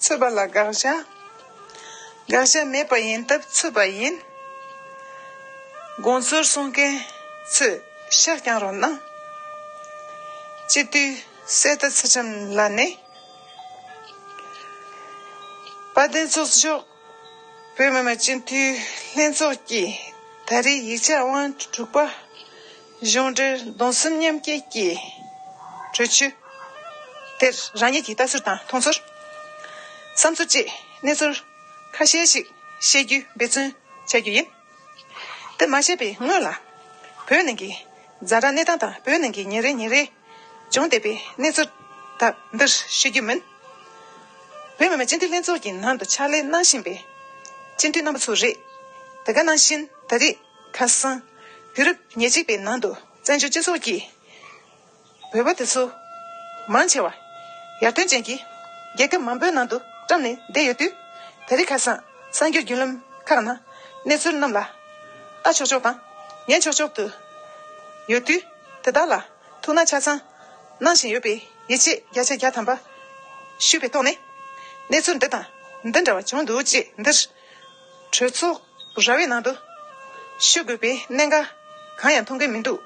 ཚོས་པ་ལ་དགག་བྱ། དགག་བྱ་མེད་པ་ཡིན་སྟབས་ཚོས་པ་ཡིན། དགོངས་ཚུལ་གསུང་མཁན་ཚོས་ཤ་རྐྱང་རོ་སྣ། སྤྱི་བཏུལ་གསེར་རྟ་ཚེ་ཁྲིམས་ལ་ནི། དཔའ་ལྡན་ཚོགས་མཆོག། བོད་མི་མང་སྤྱི་འཐུས་ལྷན་ཚོགས་ཀྱིས་ད་རེས་ཡིག་ཆ་དབང་དྲུག་པ། གཞུང་འབྲེལ་གདུང་གསུམ་མཉམ་སྐྱེད་ཀྱི་གྲོས་ཆོད་དེར་རང་ཉིད་ཀྱི་ལྟ་ཚུལ་དང་མཐོང་ཚོར། བསམ་ཚུལ་བཅས་གནས་ཚུལ་ཁ་ཤས་ཤིག་བཤད་རྒྱུའི་འབད་བརྩོན་བྱ་རྒྱུ་ཡིན། དེ་མ་བཤད་པའི་སྔོན་ལ། བོད་ནང་གི་རྫ་དྲ་གནས་སྟངས་དང་བོད་ནང་གི་ཉིན་རེ་ཉིན་རེའི་ཅུང་བལྟས་པས་གནས་ཚུལ་དག་འདིར་ཤོད་རྒྱུ་མིན། བོད་མི་མང་སྤྱི་འཐུས་ལྷན་ཚོགས་ཀྱི་ནང་དུ་ཕྱག་ལས་གནང་བཞིན་པའི་སྤྱི་འཐུས་རྣམ་པ་ཚོ་རེད། དེ་ག་ནང་བཞིན་ད་རེས་ཁ་སང་དུས་རབས་ཉེར་གཅིག་པའི་ནང་དུ་བཙན་བྱོལ་སྤྱི་ཚོགས་ཀྱི་བོད་པ་དེ་ཚོ་མང་ཆེ་བ་ཡར་ཐོན་ཅན་གྱི་རྒྱལ་ཁབ་མང་པོའི་ནང་དུ་བཀྲམ་ནས་བསྡད་ཡོད་དུས། ད་རེས་ཁ་སང་གསར་འགྱུར་རྒྱུན་ལམ་ཁག་ནང་གནས་ཚུལ་རྣམས་ལ་ལྟ་ཆོག་ཆོག་དང་ཉན་ཆོག་ཆོག་ཏུ་ཡོད་དུས། དེ་དག་ལ་ཐུགས་སྣང་ཆ་ཚང་གནང་བཞིན་ཡོད་པས་ཡིད་ཆེས་བརྒྱ་ཆ་བརྒྱ་དམ་པ་ཞུས་པའི་ཐོག་ནས། གནས་ཚུལ་འདི་དང་འདི་འདྲ་བ་བྱུང་འདུག་ཅེས་འདིར་གྲོས་ཚོགས་ར་བའི་ནང་དུ་ཞུ་དགོས་པའི་གནད་འགག་གང་ཡང་མཐོང་གི་མི་འདུག་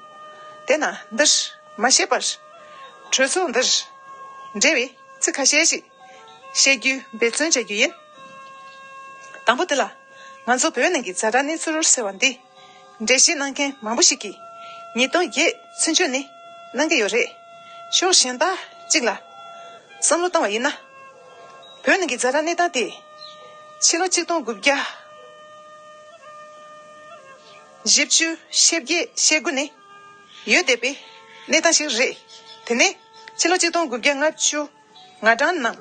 དེས་ན་འདིར་མ་བཤད་པར། གྲོས་ཚོགས་འདིར་འབྲེལ་བའི་ཚིག་ཁ་ཤས་ཤིག་བཤད་རྒྱུའི་འབད་བརྩོན་བྱ་རྒྱུ་ཡིན། དང་པོ་དེ་ལ། ང་ཚོ་བོད་ནང་གི་བཟའ་བྲག་གནས་ཚུལ་ཟེར་བ་འདི། འགྲེལ་བཤད་གནང་མཁན་མང་པོ་ཞིག་གིས། ཉིས་སྟོང་བརྒྱད་ཚུན་ཆོད་ནི་གནང་གི་ཡོད་རེད། ཕྱོགས་གཞན་དག་ཅིག་ལ་བསམ་བློ་བཏང་བ་ཡིན་ན། བོད་ནང་གི་རྫ་ར་གནས་སྟངས་དེ། ཕྱི་ལོ་གཅིག་སྟོང་དགུ་བརྒྱ་བཞི་བཅུ་ཞེ་བརྒྱད་ཞེ་དགུ་ནས་ཡོད་བསྡད་པའི་གནས་སྟངས་ཤིག་རེད། དེ་ནས་ཕྱི་ལོ་གཅིག་སྟོང་དགུ་བརྒྱ་ལྔ་བཅུ། ང་གྲངས་རྣམས།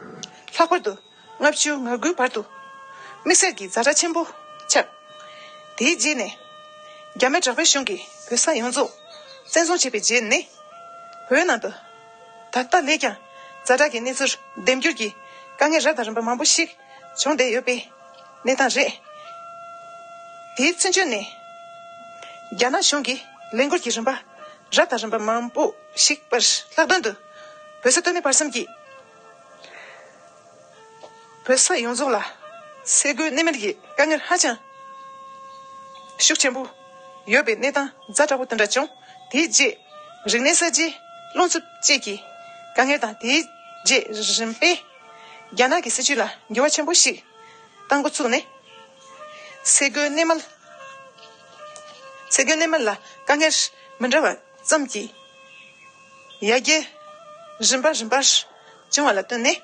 ལྷག་པར་དུ། ལྔ་བཅུ་ང་དགུའི་བར་དུ། དམིགས་བསལ་གྱི་བཟའ་བཅའ་ཆེན་པོ་ཆགས། དེའི་རྗེས་ནས། རྒྱ་མའི་གྲགས་པའི་གཞུང་གིས་བོད་ས་ཡོངས་རྫོགས་བཙན་བཟུང་བྱས་པའི་རྗེས་ནས། བོད་ནང་དུ། ད་ལྟ་ལས་ཀྱང་བཟའ་བྲག་གི་གནས་ཚུལ་ལྡེམ་འགྱུར་གྱི་དཀའ་ངལ་རབ་དང་རིམ་པ་མང་པོ་ཞིག་བྱུང་བསྡད་ཡོད་པའི་གནས་སྟངས་རེད། དེའི་ཚུན་ཆོད་ནས། རྒྱ་ནག་གཞུང་གིས་ལས་འགུལ་གྱི་རིམ་པ་རབ་དང་རིམ་པ་མང་པོ། ཞིག། པར་ལྷག་དོན་དུ། བོད་ས་སྟོད་སྨད་བར་གསུམ་གྱི། བོད་ས་ཡོངས་རྫོགས་ལ། ས་རྒོད་གནས་མལ་གྱི་དཀའ་ངལ་ཧ་ཅང། ཤུགས་ཆེན་པོ། ཡོད་པའི་གནས་སྟངས་རྫ་དྲག་པོ་དེ་འདྲ་བྱུང། དེའི་རྗེས། རིག་གནས་གསར་བརྗེའི། སློང་འཚུབ་བཅས་ཀྱི། དཀའ་ངལ་དང་དེའི། རྗེས་རིམ་དཔེ། རྒྱ་ནག་གི་སྲིད་བྱུས་ལ་འགྱུར་བ་ཆེན་པོ་ཞིག། བཏང་འགོ་ཚུགས་ནས། ས་རྒོད་གནས་མལ། ས་རྒོད་གནས་མལ་ལ་དཀའ་ངལ། མི་འདྲ་བ། ཙམ་གྱི། ཡ་གྱལ། རིམ་པ་རིམ་པར། བྱུང་བ་ལ་བསྟུན་ནས།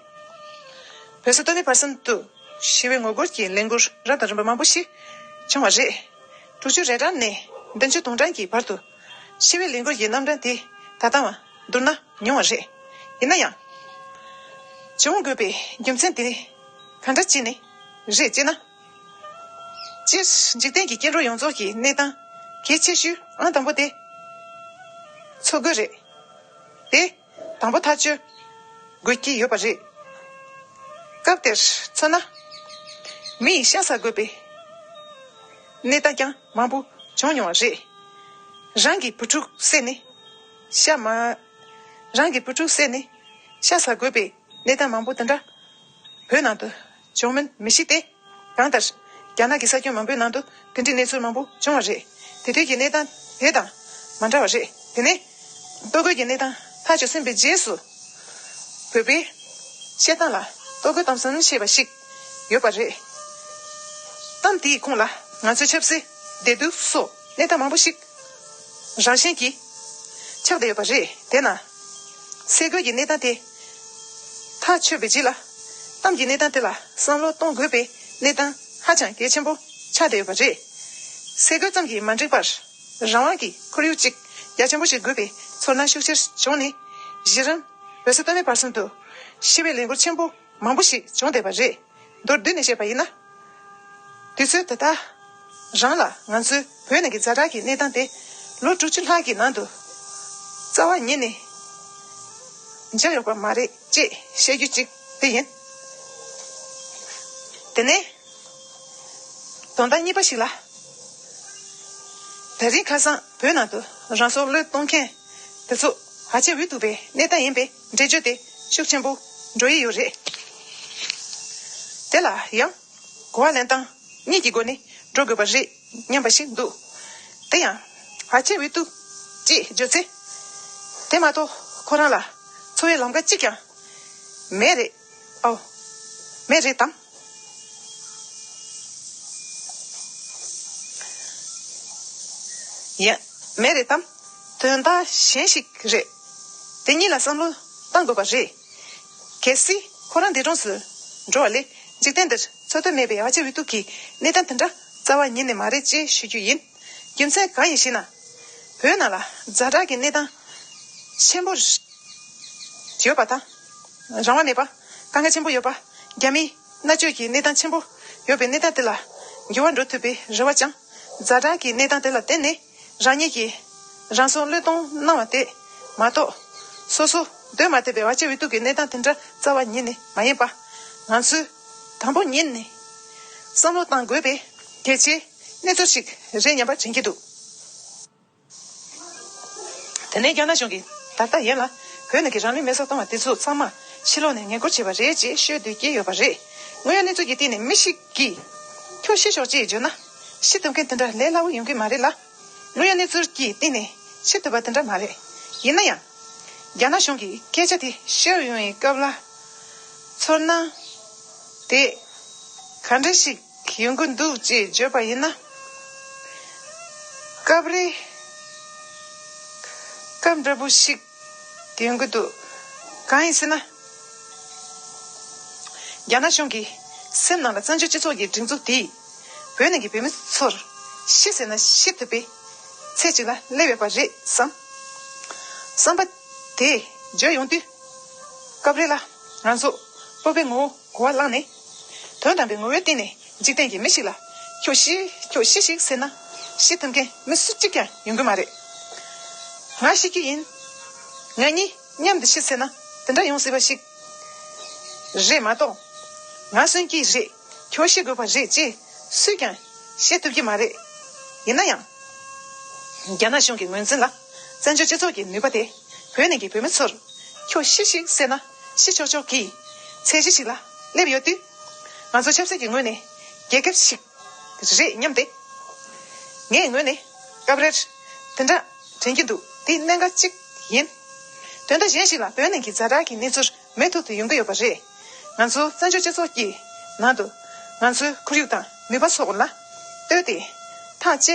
བོད་ས་སྟོད་མི་བར་གསུམ་དུ། ཞི་བའི་ངོ་རྒོལ་གྱི་ལས་འགུལ་རབ་དང་རིམ་པ་མང་པོ་ཞིག། བྱུང་བ་རེད། དྲུག་ཅུ་རེ་གྲངས་ནས་བདུན་ཅུ་དུང་གྲངས་ཀྱི་བར་དུ། ཞི་བའི་ལས་འགུལ་གྱི་རྣམ་གྲངས་དེ། ད་ལྟ་བ། བསྡུར་ན། ཉུང་བ་རེད། ཡིན་ན་ཡང། བྱུང་དགོས་པའི་རྒྱུ་མཚན་དེ། གང་འདྲ་ཅིག་ནས། རེད་ཅེ་ན། སྤྱིར་འཇིག་རྟེན་གྱི་སྐྱེ་འགྲོ་ཡོངས་རྫོགས་ཀྱི་གནས་སྟངས་གལ་ཆེ་ཤོས་དང་པོ་དེ། འཚོ་དགོས་རེད་དེ། དང་པོ་ཐག་གཅོད་དགོས་ཀྱི་ཡོད་པ་རེད། སྐབས་དེར་མཚོན་ན། མི་ཡི་ཤ་ཟ་དགོས་པའི་གནས་སྟངས་ཀྱང་མང་པོ་བྱུང་མྱོང་བ་རེད། རང་གི་བུ་ཕྲུག་བསད་ནས་ཤ་མ། རང་གི་བུ་ཕྲུག་བསད་ནས་ཤ་ཟ་དགོས་པའི་གནས་སྟངས་མང་པོ་དེ་འདྲ་བོད་ནང་དུ་བྱུང་མིན་མི་ཤེས་ཏེ། གང་ལྟར། རྒྱ་ནག་གི་ས་ཁྱོན་མང་པོའི་ནང་དུ་དེ་འདྲའི་གནས་ཚུལ་མང་པོ་བྱུང་བ་རེད། དེ་དུས་ཀྱི་གནས་སྟངས་དེ་དང་མ་འདྲ་བ་རེད། དེ་ནས། ལྟོ་གོས་ཀྱི་གནས་སྟངས་ཐག་གཅོད་ཟིན་པའི་རྗེས་སུ། བོད་པའི། བཤད་སྟངས་ལ་ལྟོ་གོས་གཏམ་གསུམ་ཞེས་པ་ཞིག། ཡོད་པ་རེད། གཏམ་དེའི་ཁུངས་ལ་ང་ཚོའི་ཆབ་སྲིད། བདེ་སྡུག་སོགས་གནས་སྟངས་མང་པོ་ཞིག། རང་བཞིན་གྱིས། ཆགས་བསྡད་ཡོད་པ་རེད། དེས་ན། ཟས་གོས་ཀྱི་གནས་སྟངས་དེ། ཐག་ཆོད་པའི་རྗེས་ལ། གཏམ་གྱི་གནས་སྟངས་དེ་ལ་བསམ་བློ་གཏོང་དགོས་པའི་གནས་སྟངས་ཧ་ཅང་གལ་ཆེན་པོ་ཆགས་བསྡད་ཡོད་པ་རེད། ཟས་གོས་ཙམ་གྱིས་མ་འགྲིག་པར། རང་དབང་གི་ཁོར་ཡུག་ཅིག་རྒྱ་ཆེན་པོ་ཞིག་དགོས་པའི་ཚོར་སྣང་ཤུགས་ཆེར་བྱུང་ནས། གཞི་རིམ། བོད་ས་གཏོད་མེད་བར་གསུམ་དུ། ཞི་བའི་ལས་འགུལ་ཆེན་པོ་མང་པོ་ཞིག་བྱུང་བསྡད་པ་རེད། མདོར་བསྡུས་ནས་བཤད་པ་ཡིན་ན། དུས་ཚོད་ད་ལྟ་རང་ལ་ང་ཚོའི་བོད་ནང་གི་རྫ་དྲག་གི་གནས་སྟངས་དེ་ལོ་དྲུག་ཅུ་ལྷག་གི་ནང་དུ་རྩ་བ་ཉིད་ནས་འཇགས་ཡོད་པ་མ་རེད་ཅེས་བཤད་རྒྱུ་གཅིག་དེ་ཡིན། དེ་ནས་དོན་དག་གཉིས་པ་ཞིག་ལ། ད་རིང་ཁ་སང་བོད་ནང་དུ་རང་སྲོག་བློས་གཏོང་མཁན་དེ་ཚོ་ཧ་ཅང་འུད་སྟུག་པའི་གནས་སྟངས་ཡིན་པས། འགྲེལ་བརྗོད་དེ་ཤུགས་ཆེན་པོ་འགྲོ་ཡི་ཡོད་རེད། དེ་ལ་ཡང་གོ་བ་ལེན་སྟངས་གཉིས་ཀྱི་སྒོ་ནས་འགྲོ་དགོས་པ་རེད་སྙམ་པ་ཞིག་འདུག་དེ་ཡང། ཨ་ཅེ་འི་ཏུ། ཅེས་བརྗོད་ཚེ། དེ་མ་གཏོགས་ཁོ་རང་ལ་འཚོ་བའི་ལམ་ཀ་གཅིག་ཀྱང་མེད་རེད། ཨཱོ། མེ་རི་དང། ཡིན། མེ་རི་དང། དོན་དག་གཞན་ཞིག་རེད། དེ་གཉིས་ལ་བསམ་བློ་གཏང་དགོས་པ་རེད། གལ་སྲིད་ཁོ་རང་འདས་གྲོངས་སུ་འགྲོ་བ་ལས་འཇིག་རྟེན་འདིར་འཚོ་དོན་མེད་པའི་ཨ་ཅེ་འུ་ཐུག་གི་གནས་སྟངས་དེ་འདྲ་རྩ་བ་ཉིད་ནས་མ་རེད་ཅེས་ཞུ་རྒྱུ་ཡིན། རྒྱུ་མཚན་གང་ཡིན་ཞེ་ན། བོད་ནང་ལ་རྫ་དྲག་གི་གནས་སྟངས་ཆེན་པོ་ཡོད་པ་དང། རང་དབང་མེད་པ། དཀའ་ངལ་ཆེན་པོ་ཡོད་པ། རྒྱ་མིའི། མནར་གཅོད་ཀྱི་གནས་སྟངས་ཆེན་པོ། ཡོད་པའི་གནས་སྟངས་དེ་ལ། འགྱུར་བ་འགྲོ་ཐུབ་པའི་རེ་བ་བཅངས། རྫ་དྲག་གི་གནས་སྟངས་དེ་ལ་བརྟེན་ནས། རང་ཉིད་ཀྱིས། རང་སྲོག་བློས་གཏོང་གནང་བ་དེས། མ་གཏོགས། སོ་སོ། སྡོད་མ་ཐེབས་པའི་བར་ཆད་འོད་དུ་གི་གནས་སྟངས་དེ་འདྲ་རྩ་བ་ཉིད་ནས་མ་ཡིན་པ། ང་ཚོས། དང་པོ་ཉིད་ནས། བསམ་བློ་གཏང་དགོས་པའི། གལ་ཆེའི། གནས་ཚུལ་ཞིག་རེད་སྙམ་པ་དྲན་གྱི་འདུག། དེ་ནས་རྒྱ་ནག་གཞུང་གིས་ད་ལྟ་ཡན་ལ་བོད་ནང་གི་རང་ལུས་མེར་སྲེག་གཏོང་བ་དེ་ཚོ་ཚང་མ་ཕྱི་ལོག་ནས་ངན་སྐུར་བྱས་པ་རེད་ཅེས་ཤོད་འདོད་ཀྱི་ཡོད་པ་རེད། དངོས་ཡོད་གནས་ཚུལ་གྱི་སྟེང་ནས་མི་ཞིག་གིས། ཁྱོས་ཤི་ཞོག་ཅེས་བརྗོད་ན། ཤི་ཐུབ་མཁན་དེ་འདྲ་ལས་སླ་བོ་ཡོང་གི་མ་རེད་ལ། དངོས་ཡོད་གནས་ཚུལ་གྱི་སྟེང་ནས་ཤི་ཐུབ་པ་དེ་འདྲ་མ་རེད། ཡིན་ན་ཡང། རྒྱ་ནག་གཞུང་གིས་སྐད་ཆ་དེ་ཤོད་ཡོང་བའི་སྐབས་ལ་ཚོར་སྣང་དེ་ག་འདྲ་ཞིག། གྱོན་གྱི་འདུག་ཅེས་བརྗོད་པ་ཡིན་ན། སྐབས་རེ་སྐབས་འདྲ་པོ་ཞིག་གྱོན་གྱི་འདུག་གང་ཡིན་ཟེར་ན། རྒྱ་ནག་གཞུང་གིས་སེམས་ནང་ལ་བཙན་བྱོལ་སྤྱི་ཚོགས་ཀྱི་སྒྲིག་འཛུགས་དེས་བོད་ནང་གི་བོད་མི་ཚོར་ཤི་ཟེར་ན་ཤི་ཐུབ་པའི་ཚད་ཅིག་ལ་སླེབས་ཡོད་པ་རེད་བསམ། བསམ་པ་དེ་བརྗོད་ཡོང་དུས་སྐབས་རེ་ལ་ང་ཚོ་སྤོབས་པའི་ངོ་བོ། གོ་བ་བླངས་ནས། དོན་དམ་པའི་ངོ་བོའི་སྟེང་ནས་འཇིག་རྟེན་གྱི་མི་ཞིག་ལ། ཁྱོད་ཤི། ཁྱོད་ཤི་ཞིག་ཟེར་ན། ཤི་ཐུབ་མཁན་མི་སུ་གཅིག་ཀྱང་ཡོང་གི་མ་རེད། ང་ཤི་རྒྱུ་ཡིན། ང་གཉིས་མཉམ་དུ་ཤི་ཟེར་ན་དེ་འདྲ་ཡོང་སྲིད་པ་ཞིག་རེད་མ་གཏོགས། ང་གསོན་གྱི་རེད། ཁྱོད་ཤི་དགོས་པ་རེད་ཅེས་སུས་ཀྱང་བཤད་ཐུབ་ཀྱི་མ་རེད། ཡིན་ན་ཡང། རྒྱ་ནག་གཞུང་གི་ངོས་འཛིན་ལ། བཙན་བྱོལ་སྤྱི་ཚོགས་ཀྱི་ནུས་པ་དེས་བོད་ནང་གི་བོད་མི་ཚོར། ཁྱོད་ཤི་ཞིག་ཟེར་ན། ཤི་ཆོག་ཆོག་གི། ཚད་གཞི་ཞིག་ལ་སླེབས་ཡོད་དུས། ང་ཚོ་ཆབ་སྲིད་ཀྱི་ངོས་ནས་རྒྱལ་ཁབ་ཞིག་རེད་སྙམ་སྟེ། ངའི་ངོས་ནས་སྐབས་རེར་དེ་འདྲ་དྲན་གྱི་འདུག་འདི་གནད་འགག་ཅིག་ཡིན། དོན་དག་གཞན་ཞིག་ལ་བོད་ནང་གི་རྫ་དྲག་གི་གནས་ཚུལ་མོས་མཐུག་ཏུ་ཡོང་གི་ཡོད་པ་རེད། ང་ཚོ་བཙན་བྱོལ་སྤྱི་ཚོགས་ཀྱི་ནང་དུ། ང་ཚོའི་ཁོར་ཡུག་དང་ནུས་པ་སོགས་ལ་ལྟོས་ཏེ་ཐག་བཅད་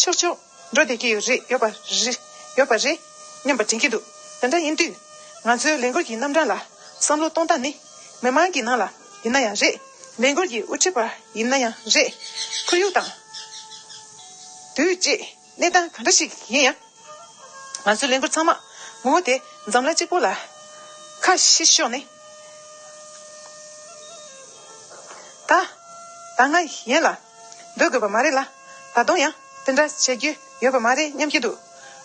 ཆོག་ཆོག། འགྲོ་བདེ་སྐྱིད་རེད་ཡོད་པ་རེད། ཡོད་པ་རེད། སྙམ་པ་དྲན་གྱི་འདུག་དེ་འདྲ་ཡིན་དུས། ང་ཚོའི་ལས་འགུལ་གྱི་རྣམ་གྲངས་ལ་བསམ་བློ་གཏོང་སྟངས་ནི། མི་མང་གི་ནང་ལ་ཡིན་ན་ཡང་རེད། ལས་འགུལ་གྱི་དབུ་ཁྲིད་པ་ཡིན་ན་ཡང་རེད། ཁོར་ཡུག་དང། དུས་བཅས་གནས་སྟངས་གང་འདྲ་ཞིག་ཡིན་ཡང། ང་ཚོའི་ལས་འགུལ་ཚང་མ་ངོ་བོ་དེ་འཛམ་གླིང་གཅིག་པོ་ལ། ཁ་ཞེ་ཕྱོགས་ནས། ད། ད་སྔ་ཡན་ལ། སྡོད་དགོས་པ་མ་རེད་ལ། ད་དུང་ཡང་དེ་འདྲ་བྱེད་རྒྱུ་ཡོད་པ་མ་རེད་སྙམ་གྱི་འདུག་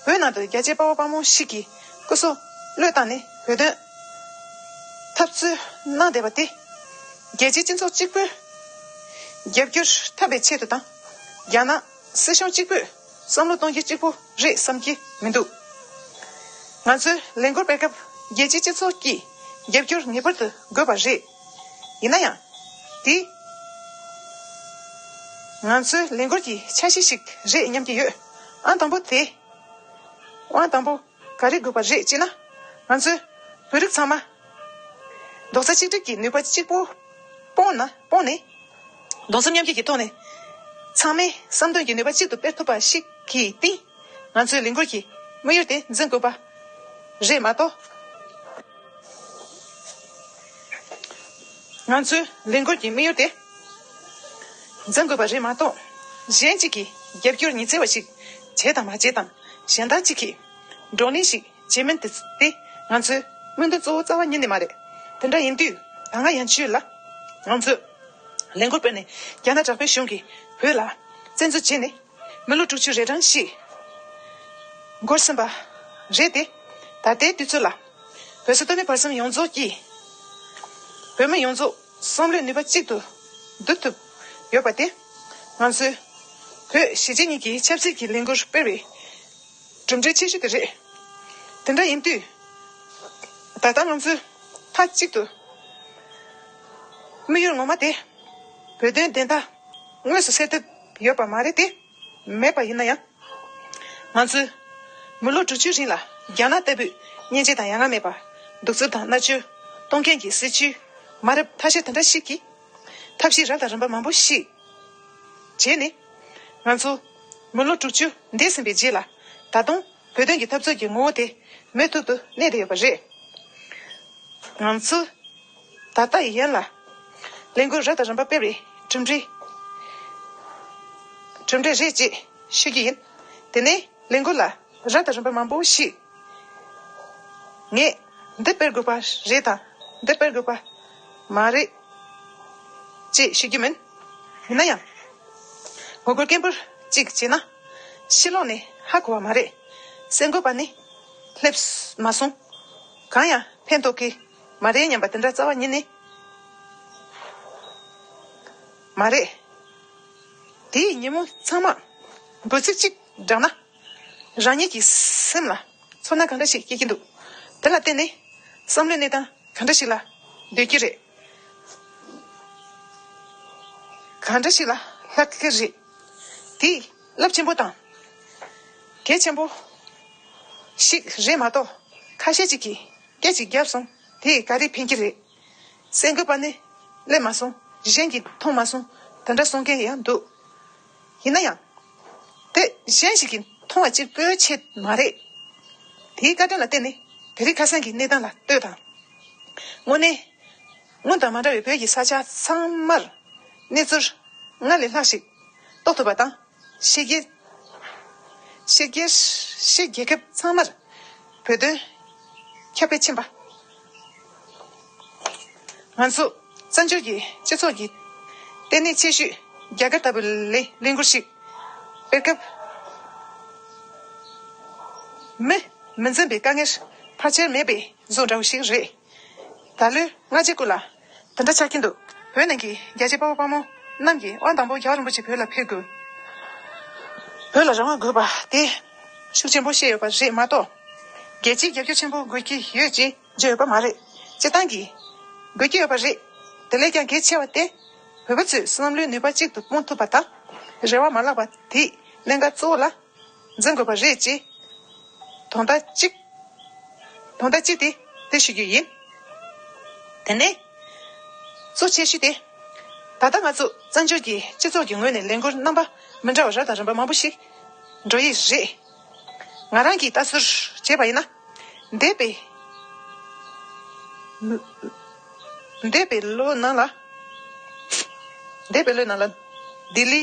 བོད་ནང་དུ་རྒྱལ་གཅེས་དཔའ་བོ་དཔའ་མོ་ཞིག་གིས་སྐུ་སྲོག་བློས་བཏང་ནས་བོད་དོན་འཐབ་རྩོད་གནང་བསྡད་པ་དེ། རྒྱལ་སྤྱིའི་སྤྱི་ཚོགས་གཅིག་པོས་རྒྱབ་སྐྱོར་ཐབས་པའི་ཆེད་དུ་དང། རྒྱ་ནག་སྲིད་གཞུང་གཅིག་པོས་བསམ་བློ་གཏོང་རྒྱུ་གཅིག་པོ་རེད་བསམ་གྱི་མི་འདུག་ང་ཚོས་ལས་འགུལ་སྤེལ་སྐབས་རྒྱལ་སྤྱིའི་སྤྱི་ཚོགས་ཀྱིས་རྒྱབ་སྐྱོར་ངེས་པར་དུ་དགོས་པ་རེད། ཡིན་ན་ཡང། དེ། ང་ཚོའི་ལས་འགུལ་གྱི་འཆར་གཞི་ཞིག་རེད་སྙམ་གྱི་ཡོད། ཨང་དང་པོ་དེ། དབང་དང་པོ་ག་རེ་དགོས་པ་རེད་ཅེ་ན། ང་ཚོའི་བོད་རིགས་ཚང་མ། རྡོག་རྩ་གཅིག་སྒྲིལ་གྱི་ནུས་པ་གཅིག་པུ་སྤོང་ན། སྤོངས་ནས། གདོང་ཚོམ་མཉམ་སྐྱེད་ཀྱི་ཐོག་ནས། ཚང་མའི་བསམ་འདུན་གྱི་ནུས་པ་གཅིག་ཏུ་སྤེལ་ཐུབ་པ་ཞིག་གི་སྟེང། ང་ཚོའི་ལས་འགུལ་གྱི་དམིགས་ཡུལ་དེ་འཛིན་དགོས་པ་རེད་མ་གཏོགས། ང་ཚོའི་ལས་འགུལ་གྱི་དམིགས་ཡུལ་དེ་འཛིན་དགོས་པ་རེད་མ་གཏོགས། གཞན་གཅིག་གིས་རྒྱབ་སྐྱོར་ཉི་ཚེ་བ་ཞིག་བྱས་དང་མ་བྱས་དང་གཞན་དག་གཅིག་གིས་བགྲོ་གླེང་ཞིག་བྱས་མིན་དེ་སྟེ་ང་ཚོའི་སྨོན་འདུན་གཙོ་བོ་རྩ་བ་ཉིད་ནས་མ་རེད། དེ་འདྲ་ཡིན་དུས་ད་སྔ་ཡན་ཆོད་ལ་ང་ཚོས་ལས་འགུལ་སྤེལ་ནས་རྒྱ་ནག་དྲག་པའི་གཞུང་གིས་བོད་ལ་བཙན་འཛུལ་བྱས་ནས། མི་ལོ་དྲུག་ཅུ་རེ་གྲངས་ཤིག་འགོར་ཟིན་པ་རེད་དེ། ད་ལྟའི་དུས་ཚོད་ལ། བོད་སི་སྟོད་མའི་བར་གསུམ་ཡོངས་རྫོགས་ཀྱིས། བོད་མི་ཡོངས་རྫོགས་བསམ་བློའི་ནུས་པ་གཅིག་ཏུ་བསྡུ་ཐུབ་ཡོད་པ་དེ། ང་ཚོའི་བོད་གཞིས་བྱེས་གཉིས་ཀྱིས་ཆབ་སྲིད་ཀྱི་ལས་འགུལ་སྤེལ་བའི་གྲུབ་འབྲས་ཆེ་ཤོས་དེ་རེད། དེ་འདྲ་ཡིན་དུས། ད་ལྟ་ང་ཚོས་མཐའ་གཅིག་ཏུ། དམིགས་ཡུལ་ངོ་མ་དེ། བོད་དོན་བདེན་མཐའ་དངོས་སུ་སེལ་ཐབས། ཡོད་པ་མ་རེད་དེ། མེད་པ་ཡིན་ན་ཡང། ང་ཚོས། མི་ལོ་དྲུག་ཅུའི་རིང་ལ་རྒྱ་ནག་ལྟ་བུས་གཉེན་བྱེད་དང་ཡ་ང་མེད་པར་གདུག་རྩུབ་དང་མནར་གཅོད་གཏོང་མཁན་གྱི་སྲིད་བྱུས་མ་རབས་ཐ་ཤལ་དེ་འདྲ་ཞིག་གི་ཐབས་ཤེས་རབ་དང་རིམ་པ་མང་པོ་ཞིག་བྱས་ནས། ང་ཚོ། མི་ལོ་དྲུག་ཅུ་འདས་ཟིན་པའི་རྗེས་ལ་ད་དུང་བོད་དོན་གྱི་འཐབ་རྩོད་ཀྱི་ངོ་བོ་དེ་མོས་ཐུབ་ཏུ་གནས་བསྡད་ཡོད་པ་རེད། ང་ཚོས། ད་ལྟ་ཡི་ཡན་ལ། ལས་འགུལ་རེ་དང་རིམ་པ་སྤེལ་བའི་གྲུབ་འབྲས། གྲུབ་འབྲས་རེད་ཅེས་ཤོད་ཀྱི་ཡིན། དེ་ནས་ལས་འགུལ་ལ་རེ་དང་རིམ་པ་མང་པོ་ཞིག། ངས་འདི་སྤེལ་དགོས་པ་རེད་དང་འདི་སྤེལ་དགོས་པ་མ་རེད། ཅེས་ཤོད་ཀྱི་མིན། ཡིན་ན་ཡང། ངོ་རྒོལ་སྐད་འབོད་ཅིག་བྱས་ན། ཕྱི་ལོགས་ནས་ཧ་གོ་བ་མ་རེད། གསལ་འགོད་པ་ནི་སླེབས་མ་སོང། གང་ཡང་ཕན་ཐོགས་ཀྱི། མ་རེད་སྙམ་པ་དེ་འདྲ་རྩ་བ་ཉིད་ནི་མ་རེད། དེ་ཡི་ཉིན་མོ་ཚང་མ་འབོད་ཚིག་གཅིག་བསྒྲགས་ན། རང་ཉིད་ཀྱི་སེམས་ལ་ཚོར་སྣང་གང་འདྲ་ཞིག་སྐྱེ་གྱིན་འདུག་དེ་ལ་བརྟེན་ནས་བསམ་བློའི་གནས་སྟངས་གང་འདྲ་ཞིག་ལ་སྡོད་ཀྱི་རེད། གང་འདྲ་ཞིག་ལ་ལྷག་གི་རེད། དེའི་རླབས་ཆེན་པོ་དང་གལ་ཆེན་པོ་ཞིག་རེད་མ་གཏོགས་ཁ་ཤས་ཅིག་གིས་སྐད་ཅིག་བརྒྱབ་སོང་དེ་ག་རེ་ཕན་གྱི་རེད། སེམས་འགུལ་པ་ནི། སླེབས་མ་སོང། གཞན་གྱིས་མཐོང་མ་སོང། དེ་འདྲ་གསུང་མཁན་ཡང་འདུག། ཡིན་ན་ཡང། དེ་གཞན་ཞིག་གིས་མཐོང་བ་གཅིག་པོའི་ཆེད་མ་རེད། དེའི་བཀའ་དྲིན་ལ་བརྟེན་ནས་དེ་རིང་ཁ་སང་གི་གནས་སྟངས་ལ་ལྟོས་དང། དངོས་གནས། སྔོན་དང་མ་འདྲ་བའི་བོད་ཀྱི་ས་ཆ་ཚང་མར། གནས་ཚུལ། སྔར་ལས་ལྷག་ཞིག། རྟོགས་ཐུབ་པ་དང། ཕྱི་རྒྱལ། ཕྱི་རྒྱལ། ཕྱི་རྒྱལ་ཁབ་ཚང་མར་བོད་དོན་ཁྱབ་སྤེལ་ཕྱིན་པ། ང་ཚོ་བཙན་བྱོལ་གྱི་སྤྱི་ཚོགས་ཀྱི་ལྟེ་གནས་ཆེ་ཤོས་རྒྱ་གར་ལྟ་བུ་ལས་གླིང་སྐོར་ཞིག་སྤེལ་སྐབས། མི་མི་འཛིན་པའི་དཀའ་ངལ་ཕར་ཆེར་མེད་པའི་བཟོ་འདྲ་བོ་ཞིག་རེད། ད་ལོའི་ལྔ་བརྒྱད་དགུ་ལ། དེ་འདྲ་ཆགས་ཀྱིན་འདུག་བོད་ནང་གི་རྒྱལ་གཅེས་དཔའ་བོ་དཔའ་མོ་རྣམས་ཀྱིས་དབང་དང་པོ་རྒྱ་རིན་པོ་ཆེ་བོད་ལ་ཕེབས་དགོས། བོད་ལ་རང་དབང་དགོས་པ་དེ་ཤུགས་ཆེན་པོ་བཤད་ཡོད་པ་རེད་མ་གཏོགས། རྒྱལ་སྤྱིའི་རྒྱབ་སྐྱོར་ཆེན་པོ་དགོས་ཀྱི་ཡོད་ཅེས་བརྗོད་ཡོད་པ་མ་རེད། སྤྱི་བཏང་གིས་དགོས་ཀྱི་ཡོད་པ་རེད། དེ་ལས་ཀྱང་གལ་ཆེ་བ་སྟེ། བོད་པ་ཚོས་བསམ་བློའི་ནུས་པ་གཅིག་ཏུ་སྤུངས་ཐུབ་པ་དང། རེ་བ་མ་བརླག་པ་དེས་གནད་འགག་གཙོ་བོ་ལ་འཛིན་དགོས་པ་རེད་ཅེས། དོན་དག་གཅིག། དོན་དག་གཅིག་དེ་དེ་ཤེས་རྒྱུ་ཡིན། དེ་ནི། གཙོ་ཆེ་ཤོས་དེ། ད་ལྟ་ང་ཚོ་བཙན་བྱོལ་གྱི་སྤྱི་ཚོགས་ཀྱི་ངོས་ནས་ལས་འགུལ་རྣམ་པ་མི་འདྲ་བ་རབ་དང་རིམ་པ་མང་པོ་ཞིག་འགྲོ་ཡི་རེད། ང་རང་གིས་ལྟ་ཚུལ་བྱས་པ་ཡིན་ན། འདས་པའི། འདས་པའི་ལོའི་ནང་ལ། འདས་པའི་ལོའི་ནང་ལ། ལྡི་ལི།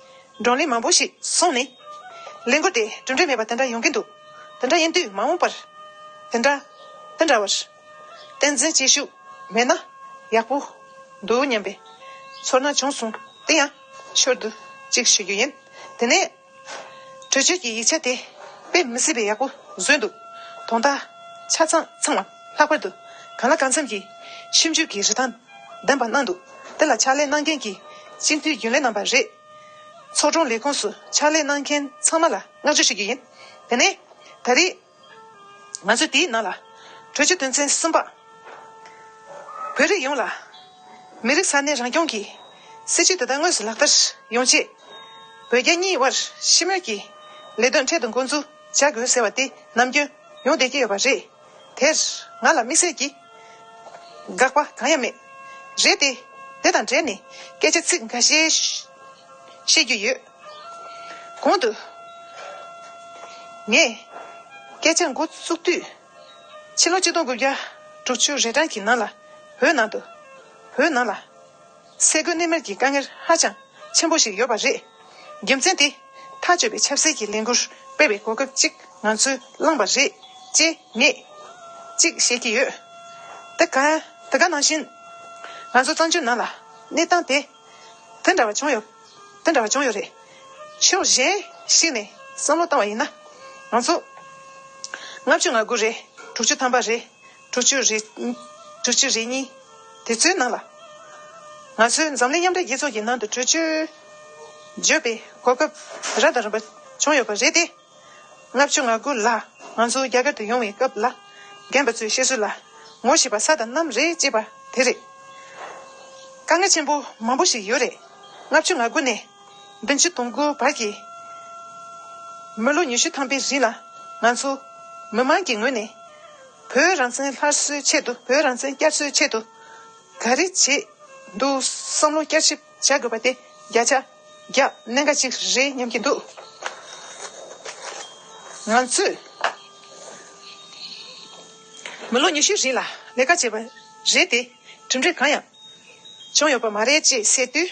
བགྲོ་གླེང་མང་པོ་ཞིག་གསུངས་ནས། གླེང་སྐོར་དེ་གྲུབ་འབྲས་མེད་པ་དེ་འདྲ་ཡོང་གིན་འདུག་དེ་འདྲ་ཡིན་དུས་མ་འོངས་པར། དེ་འདྲ་དེ་འདྲ་བར། བསྟན་འཛིན་བྱེད་ཤུགས་མེད་ན་ཡག་པོ་འདུག་སྙམ་པའི་ཚོར་སྣང་བྱུང་སོང་དེ་ཡང་ཞོར་དུ་གཅིག་ཞུ་རྒྱུ་ཡིན། དེ་ནས། བྲོས་བྱོལ་གྱི་ཡིག་ཆ་དེ་དཔེ་མི་སྲིད་པའི་ཡག་པོ་བཟོས་འདུག་དོན་དག་ཆ་ཚང་ཚང་མ་ལྷག་པར་དུ་གང་ལ་གང་འཚམ་གྱིས་ཞིབ་འཇུག་གི་རི་ཐང། ལྡན་པར་གནང་འདུག་དེ་ལ་ཕྱག་ལས་གནང་མཁན་གྱི་སྤྱི་འཐུས་རྒྱུན་ལས་རྣམ་པ་རེད། ཚོགས་དྲུང་ལས་ཁུངས་སུ་ཕྱག་ལས་གནང་མཁན་ཚང་མ་ལ་བསྔགས་བརྗོད་ཞུ་རྒྱུ་ཡིན། དེ་ནས་ད་རེས་ང་ཚོས་དེའི་ནང་ལ་གྲོས་ཆོད་དོན་ཚན་གསུམ་པ། བོད་རིགས་ཡོངས་ལ་མི་རིགས་ས་གནས་རང་སྐྱོང་གི་སྲིད་བྱུས་དེ་དག་དངོས་སུ་ལག་བསྟར་ཡོང་ཆེད། བོད་རྒྱ་གཉིས་དབར་ཞི་མོལ་གྱི་ལས་དོན་འཕྲལ་དུ་འགོ་འཛུགས་བྱ་དགོས་ཟེར་བ་དེ་ནམ་རྒྱུན་ཡོང་བསྡད་ཀྱི་ཡོད་པ་རེད། དེར་ང་ལ་དམིགས་བསལ་གྱི། དགག་པ་གང་ཡང་མེད། རེད་དེ། དེ་དང་འབྲེལ་ནས་སྐད་ཆ་ཚིག་འགའ་ཤས་བཤད་རྒྱུ་ཡོད། གོང་དུ། ངས་སྐད་ཆ་འགོ་བཙུགས་དུས། ཕྱི་ལོ་གཅིག་སྟོང་དགུ་བརྒྱ་དྲུག་ཅུ་རེ་གྲངས་ཀྱི་ནང་ལ་བོད་ནང་དུ། བོད་ནང་ལ། སེ་གོལ་གནས་མལ་གྱི་དཀའ་ངལ་ཧ་ཅང་ཆེན་པོ་ཞིག་ཡོད་པ་རེད། རྒྱུ་མཚན་དེ་ཐག་གཅོད་པའི་ཆབ་སྲིད་ཀྱི་ལས་འགུལ་སྤེལ་བའི་གོ་སྐབས་ཅིག་ང་ཚོས་བླངས་པ་རེད། ཅེས་ངས་ཅིག་བཤད་ཀྱི་ཡོད། དེ་ག་དེ་ག་ནང་བཞིན་ང་ཚོ་གཙང་ཆུའི་ནང་ལ་གནས་སྟངས་དེ་དེ་འདྲ་བ་བྱུང་ཡོད་དེ་འདྲ་བ་བྱུང་ཡོད་རེད། ཕྱོགས་གཞན་ཞིག་ནས་བསམ་བློ་བཏང་བ་ཡིན་ན། ང་ཚོ་ལྔ་བཅུ་ང་དགུ་རེད་དྲུག་ཅུ་ཐམ་པ་རེད། དྲུག་ཅུ་རེ། དྲུག་ཅུ་རེ་གཉིས། དེ་ཚོའི་ནང་ལ། ང་ཚོའི་འཛམ་གླིང་མཉམ་འབྲེལ་རྒྱལ་ཚོགས་ཀྱི་ནང་དུ་དྲུག་ཅུ། བརྗོད་པའི་གོ་སྐབས་རབ་དང་རིམ་པ་བྱུང་ཡོད་པ་རེད་དེ། ལྔ་བཅུ་ང་དགུ་ལ་ང་ཚོ་རྒྱ་གར་དུ་ཡོང་བའི་སྐབས་ལ། རྒན་པ་ཚོས་བཤད་ཚུལ་ལ། ངོ་ཤེས་པ་ས་དང་གནམ་རེད་ཅེས་པ་དེ་རེད། དཀའ་ངལ་ཆེན་པོ་མང་པོ་ཞིག་ཡོད་རེད། ལྔ་བཅུ་ང་དགུ་ནས། བདུན་ཅུ་དང་དགུ་བར་གྱི། མི་ལོ་ཉི་ཤུ་ཐམ་པའི་རིང་ལ། ང་ཚོ། མི་མང་གི་ངོས་ནས། བོད་རང་བཙན་སླར་གསོའི་ཆེད་དུ་བོད་རང་བཙན་བསྐྱར་གསོའི་ཆེད་དུ། ག་རེ་བྱེད་འདུག་བསམ་བློ་བསྐྱར་ཞིབ་བྱ་དགོས་པ་དེ་བརྒྱ་ཆ་བརྒྱ་གནད་འགག་ཅིག་རེད་སྙམ་གྱི་འདུག་ང་ཚོས་མི་ལོ་ཉི་ཤུའི་རིང་ལ་ལས་ཀ་བྱས་པ་རེད་དེ་གྲུབ་འབྲས་གང་ཡང་བྱུང་ཡོད་པ་མ་རེད་ཅེས་ཟེར་དུས།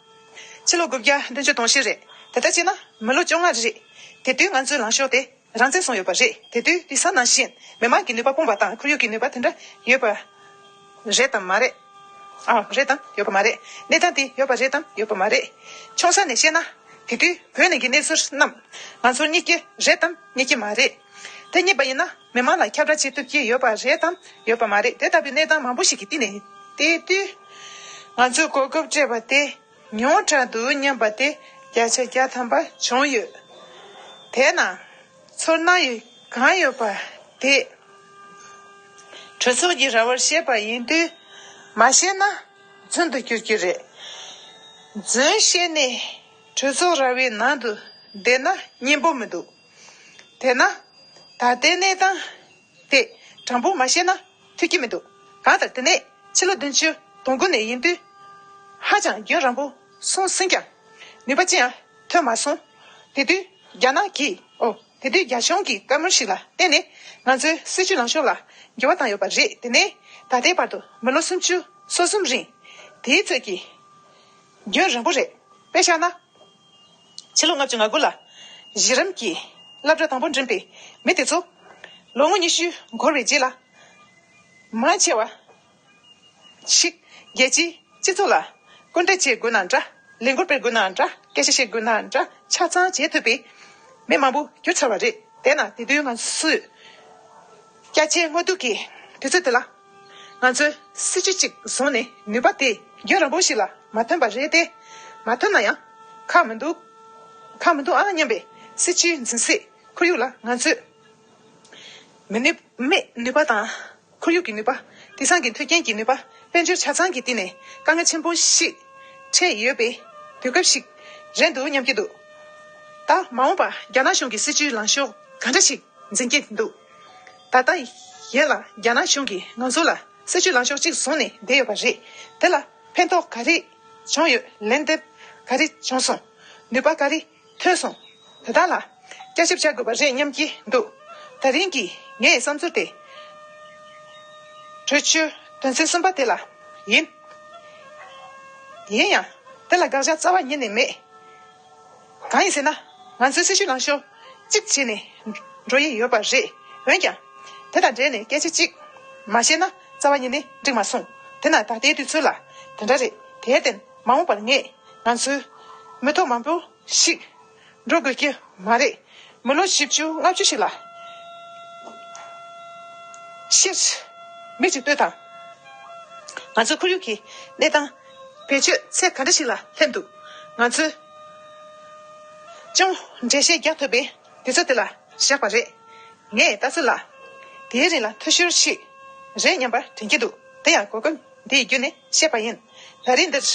ཕྱི་ལོ་དགུ་བརྒྱ་བདུན་ཅུ་དུང་ཕྱིར་རེད། དེ་ལྟར་བྱས་ན་མི་ལོ་བཅོ་ལྔ་རེད། དེ་དུས་ང་ཚོའི་ལངས་ཕྱོགས་དེ་རང་བཙན་བཟུང་ཡོད་པ་རེད། དེ་དུས་དུས་བཟང་ནང་བཞིན་མི་དམངས་ཀྱི་ནུས་པ་སྤུངས་པ་དང་ཁོར་ཡུག་གི་ནུས་པ་དེ་འདྲ་ཡོད་པ་རེད་དམ་མ་རེད། ཨ། རེད་དམ་ཡོད་པ་མ་རེད། གནས་སྟངས་དེ་ཡོད་པ་རེད་དམ་ཡོད་པ་མ་རེད། ཆུང་ས་ནས་བཤད་ན། དེ་དུས་བོད་ནང་གི་གནས་ཚུལ་རྣམས་ང་ཚོར་རྙེད་ཀྱི་རེད་དམ་རྙེད་ཀྱི་མ་རེད། དེ་རྙེད་པ་ཡིན་ན། མི་དམངས་ལ་ཁྱབ་བསྒྲགས་བྱེད་ཐུབ་ཀྱི་ཡོད་པ་རེད་དམ། ཡོད་པ་མ་རེད། དེ་ལྟ་བུའི་གནས་སྟངས་མང་པོ་ཞིག་གི་སྟེང་ནས། དེ་དུས། ང་ཚོས་གོ་སྐབས་སྤྲད་པ་དེ། ཉུང་དྲགས་འདུག་སྙམ་པ་དེ་བརྒྱ་ཆ་བརྒྱ་ཐམ་པ་བྱུང་ཡོད། དེས་ན། ཚོར་སྣང་ཡོད་གང་ཡོད་པ་དེ། གྲོས་ཚོགས་ཀྱི་ར་བར་བཤད་པ་ཡིན་དུས། མ་བཤད་ན། རྫུན་དུ་གྱུར་གྱི་རེད། རྫུན་བཤད་ནས་གྲོས་ཚོགས་ར་བའི་ནང་དུ་བསྡད་ན་སྙན་པོ་མི་འདུག། དེས་ན། ད་ལྟའི་གནས་སྟངས་དེ། དྲང་པོ་མ་ཤེས་ན་ཐོས་ཀྱི་མི་འདུག་གང་ལྟར་དེ་ནས་ཕྱི་ལོ་བདུན་ཅུ་དང་དགུ་ནས་ཡིན་དུས། ཧ་ཅང་རྒྱུན་རིང་པོ་སོང་ཟིན་ཀྱང། ནུས་པ་ཅི་ཡང་ཐོན་མ་སོང། དེ་དུས་རྒྱ་ནག་གིས་ཨོ། དེ་དུས་རྒྱ་གཞུང་གི་བཀའ་མོལ་ཞིག་ལ་བརྟེན་ནས་ང་ཚོའི་སྲིད་བྱུས་ལངས་ཕྱོགས་ལ་འགྱུར་བ་བཏང་ཡོད་པ་རེད་དེ་ནས་ད་ལྟའི་བར་དུ་མི་ལོ་སུམ་ཅུ་སོ་གསུམ་རིང། དེའི་ཚོད་ཀྱིས་རྒྱུན་རིང་པོ་རེད་དཔེ་བཞག་ན། ཕྱི་ལོ་ལྔ་བཅུ་ང་དགུ་ལ། གཞི་རིམ་གྱི་བསླབ་གྲྭ་དང་པོ་འགྲིམས་པའི་མི་དེ་ཚོ། ལོ་ངོ་ཉི་ཤུ་འགོར་བའི་རྗེས་ལ། མང་ཆེ་བ་ཞིག་རྒྱལ་སྤྱིའི་སྤྱི་ཚོགས་ལ་སྐུར་འདེབས་བྱེད་དགོས་ན་འདྲ། ལས་འགུལ་སྤེལ་དགོས་ན་འདྲ། སྐད་ཆ་བཤད་དགོས་ན་འདྲ་ཆ་ཚང་བྱེད་ཐུབ་པའི་མི་མང་པོ་གྱུར་ཚར་བ་རེད། དེས་ན་དེ་དུས་ང་ཚོས་སྐྱ་ཆད་སྔོ་སྡུག་གི་དུས་ཚོད་དེ་ལ། ང་ཚོས་སྲིད་ཇུས་གཅིག་བཟུང་ནས་ནུས་པ་དེ་རྒྱུན་རིང་པོ་ཞིག་ལ་མ་ཐོན་པ་རེད་དེ། མ་ཐོན་ན་ཡང་ཁག་མི་འདུག་ཁག་མི་འདུག་ཨང་སྙམ་པའི་སྲིད་ཇུས་འཛིན་སའི་ཁོར་ཡུག་ལ་ང་ཚོས་མི་ནུས་མེད་ནུས་པ་དང། ཁོར་ཡུག་གི་ནུས་པ། དེ་སང་གི་མཐུན་རྐྱེན་གྱི་ནུས་པ་དཔལ་འབྱོར་ཆ་ཚང་གི་སྟེང་ནས་དཀའ་ངལ་ཆེན་པོ་ཞིག་འཕྲད་ཡོད་པའི་དུས་སྐབས་ཤིག་རེད་འདུག་སྙམ་གྱི་འདུག་ད་མ་འོངས་པར་རྒྱ་ནག་གཞུང་གི་སྲིད་ཇུས་ལངས་ཕྱོགས་ག་འདྲ་ཞིག་འཛིན་གྱི་འདུག། ད་ལྟ་ཡན་ལ་རྒྱ་ནག་གཞུང་གིས་ང་ཚོ་ལ་སྲིད་བྱུས་ལངས་ཕྱོགས་གཅིག་བཟུང་ནས་བསྡད་ཡོད་པ་རེད། དེ་ལ་ཕན་ཐོགས་ག་རེ་བྱུང་ཡོད་ལན་འདེབས་ག་རེ་བྱུང་སོང། ནུས་པ་ག་རེ་ཐོན་སོང། དེ་དག་ལ་བསྐྱར་ཞིབ་བྱ་དགོས་པ་རེད་སྙམ་གྱི་འདུག་ད་རིང་གི་ངའི་བསམ་ཚུལ་དེ་གྲོས་ཆོད་དོན་ཚན་གསུམ་པ་དེ་ལ་ཡིན། ཡིན་ཡང་དེ་ལ་དགག་བཞག་རྩ་བ་ཉིད་ནས་མེད། གང་ཡིན་ཟེར་ན། ང་ཚོའི་སྲི་ཞུ་ནང་ཤོག་ཅིག་བྱས་ནས་འགྲོ་ཡི་ཡོད་པ་རེད། འོན་ཀྱང། དེ་དང་འབྲེལ་ནས་སྐད་ཆ་གཅིག། མ་བཤད་ན་རྩ་བ་ཉིད་ནས་འགྲིག་མ་སོང། དེ་ན་ད་ལྟའི་དུས་ཚོད་ལ་དེ་འདྲ་རེད། དེའི་བརྟེན་མ་འོངས་པར་ངས་ང་ཚོའི། མི་ཐོག་མང་པོ་ཞིག། འགྲོ་དགོས་ཀྱི་མ་རེད། མི་ལོ་བཞི་བཅུ་ལྔ་བཅུ་ཞིག་ལ། ཕྱིར། མིག་ཅིག་ལྟོས་དང། ང་ཚོའི་ཁོར་ཡུག་གི་གནས་སྟངས། བེད་སྤྱོད་ཚད་ག་འདྲ་ཞིག་ལ་སླེབས་འདུག་ང་ཚོས་ཅུང་འགྲེལ་བཤད་རྒྱག་ཐུབ་པའི་དུས་ཚོད་དེ་ལ་བཞག་པ་རེད། ངས་ལྟ་ཚུལ་ལ། དེའི་རིང་ལ་འཐུས་ཤོར་ཞིག་རེད་སྙམ་པ་དྲན་གྱི་འདུག་དེ་ཡང་གོ་སྐབས་འདིའི་བརྒྱུད་ནས་བཤད་པ་ཡིན། ད་རིང་འདིར་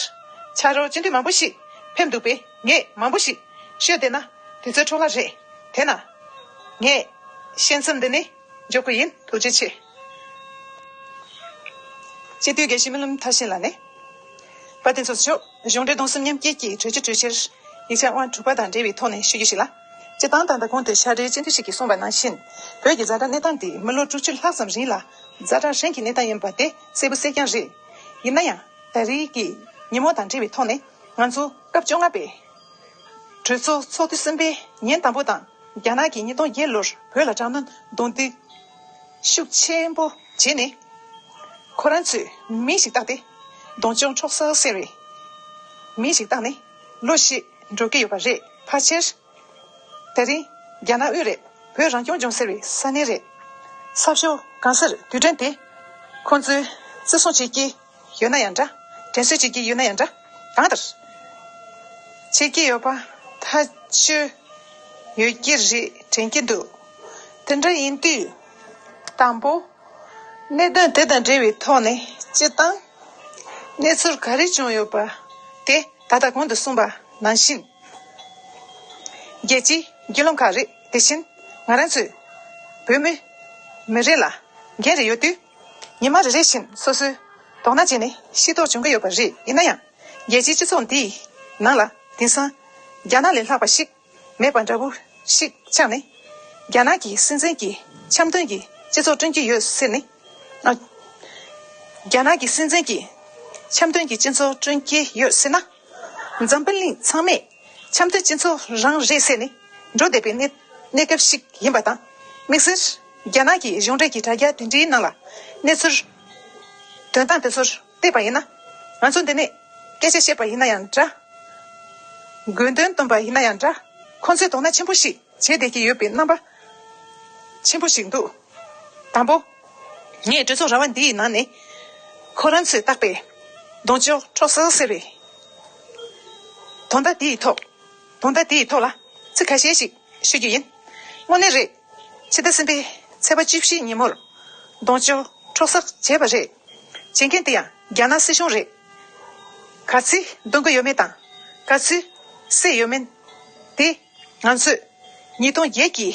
ཕྱག་རོགས་སྤྱི་འཐུས་མང་པོ་ཞིག་ཕེབས་འདུག་པས་ངས་མང་པོ་ཞིག་ཤོད་བསྡད་ན་དུས་ཚོད་འཕྲོག་གླ་རེད། དེས་ན། ངས་བཤད་མཚམས་འདི་ནས། འཇོག་གི་ཡིན་ཐུགས་རྗེ་ཆེ། སྤྱི་འཐུས་དགེ་བཤེས་རྨི་ལམ་མཐའ་བཞི་ལགས་ནས། བཀའ་བསྟན་ཚོགས་གཙོ་མཆོག་གཞུང་འབྲེལ་གདུང་སེམས་མཉམ་སྐྱེད་ཀྱི་གྲོས་ཆོད་གྲོས་ཆེར། ཡིག་ཆ་དབང་དྲུག་པ་དང་འབྲེལ་བའི་ཐོག་ནས་ཞུ་རྒྱུ་ཞིག་ལ། སྤྱི་བཏང་དང་ད་གུང་དུ་ཤར་རིའི་སྤྱི་འཐུས་ཤིག་གིས་གསུངས་པ་ནང་བཞིན། བོད་ཀྱི་རྫ་དྲ་གནས་སྟངས་དེ་མི་ལོ་དྲུག་ཅུ་ལྷག་ཙམ་རིང་ལ། རྫ་དྲ་ཧྲེང་གི་གནས་སྟངས་ཡིན་པ་དེ་གསལ་པོ་གསལ་རྐྱང་རེད། ཡིན་ན་ཡང། ད་རེས་ཀྱི་ཉིན་མོ་དང་འབྲེལ་བའི་ཐོག་ནས། ང་ཚོ་སྐབས་བཅོ་ལྔ་པའི་གྲོས་ཚོགས་ཚོགས་དུས་གསུམ་པའི་ཉིན་དང་པོ་དང་རྒྱ་ནག་གིས་ཉིས་སྟོང་བརྒྱད་ལོར་བོད་ལ་དྲག་གནོན་གདོང་གཏུག་ཤུགས་ཆེན་པོ་བྱས་ནས། ཁོ་རང་ཚོས་མི་ཞིག་བཏགས་ཏེ་གདོང་མཆོང་འཕྲོག་ས་ཟེར་བའི་མི་ཞིག་བཏགས་ནས་ལོ་ཤས་འགྲོ་གི་ཡོད་པ་རེད་ཕར་ཆེར། དེ་རིང་རྒྱ་ནག་དབུས་རེད་བོད་རང་སྐྱོང་ལྗོངས་ཟེར་བའི་ས་གནས་རེད་ས་ཕྱོགས་གང་སར་དུས་དྲན་དེ་ཁོང་ཚོའི་བརྩི་སྲུང་བྱེད་ཀྱི། ཡོད་ན་ཡང་འདྲ། དྲན་གསོ་བྱེད་ཀྱི་ཡོད་ན་ཡང་འདྲ། གང་ལྟར། བྱེད་ཀྱི་ཡོད་པ་ཐག་ཆོད་ཡོད་ཀྱི་རེད་དྲན་གྱི་འདུག་དེ་འདྲ་ཡིན་དུས། དང་པོ། གནད་དོན་དེ་དང་འབྲེལ་བའི་ཐོག་ནས་སྤྱི་བཏང་གནས་ཚུལ་ག་རེ་བྱུང་ཡོད་པ་དེ་ད་ལྟ་གོང་དུ་གསུངས་པ་ནང་བཞིན། རྒྱལ་སྤྱིའི་རྒྱུས་ལོན་ཁག་རེད་དེ་བཞིན་ང་རང་ཚོའི་བོད་མི་མི་རེ་ལ་འགན་རེ་ཡོད་དུས། ཉི་མ་རེ་རེ་བཞིན་སོ་སོའི་དོགས་སྣང་སྤྱད་ནས་ཤེས་རྟོགས་བྱུང་གི་ཡོད་པ་རེད་ཡིན་ན་ཡང། རྒྱལ་སྤྱིའི་སྤྱི་ཚོགས་འདིའི་ནང་ལ་དེང་སང་རྒྱ་ནག་ལས་ལྷག་པ་ཞིག་མེད་པ་འདྲ་བོ་ཞིག་ཆགས་ནས། རྒྱ་ནག་གི་སྲིད་འཛིན་གྱིས་འཆམ་མཐུན་གྱི་སྤྱི་ཚོགས་བསྐྲུན་གྱི་ཡོད་ཟེར་ནས། རྒྱ་ནག་གི་སྲིད་འཛིན་གྱིས་འཆམ་མཐུན་གྱི་སྤྱི་ཚོགས་བསྐྲུན་གྱི་ཡོད་ཟེར་ན། འཛམ་བུ་གླིང་ཚང་མས་འཆམ་མཐུན་སྤྱི་ཚོགས་རང་རེ་བསྲེས་ནས་འགྲོ་བསྡད་པའི་གནས་སྐབས་ཤིག་ཡིན་པ་དང། དམིགས་བསལ་རྒྱ་ནག་གི་གཞུང་འབྲེལ་གྱི་དྲ་རྒྱ་དེ་འདྲའི་ནང་ལ་གནས་ཚུལ་དོན་དང་དེ་ཚོར་བལྟས་པ་ཡིན་ན། ང་ཚོ་འདི་ནས་སྐད་ཆ་བཤད་པ་ཡིན་ན་ཡང་འདྲ། དགོས་འདུན་བཏོན་པ་ཡིན་ན་ཡང་འདྲ་ཁོང་ཚོའི་དོགས་སྣང་ཆེན་པོ་ཞིག་བྱས་བསྡད་ཀྱི་ཡོད་པའི་རྣམ་པ་ཆེན་པོ་ཞིག་འདུག་དང་པོ། ངས་གྲོས་ཚོགས་ར་བ་འདིའི་ནང་ནས་ཁོ་རང་ཚོས་བཏགས་པའི་གདོང་ཅོག་ཁྲོག་སེལ་ཟེར་བའི་དོ་ཟླ་དེའི་ཐོག་དོ་ཟླ་དེའི་ཐོག་ལ་ཚིག་ཁ་ཤས་ཤིག་ཤོད་རྒྱུ་ཡིན། དངོས་གནས་རེད། ཕྱི་ཟླ་གསུམ་པའི་ཚེས་པ་བཅུ་བཞི་ཉིན་མོར་གདོང་ཅོག་ཁྲོག་སེལ་བྱས་པ་རེད། བྱེད་མཁན་དེ་ཡང་རྒྱ་ནག་སྲིད་གཞུང་རེད། ག་ཚོད་འདོན་གི་ཡོད་མེད་དང་ག་ཚོད་བསད་ཡོད་མེད་དེ། ང་ཚོས་ཉིས་སྟོང་བརྒྱད་ཀྱི་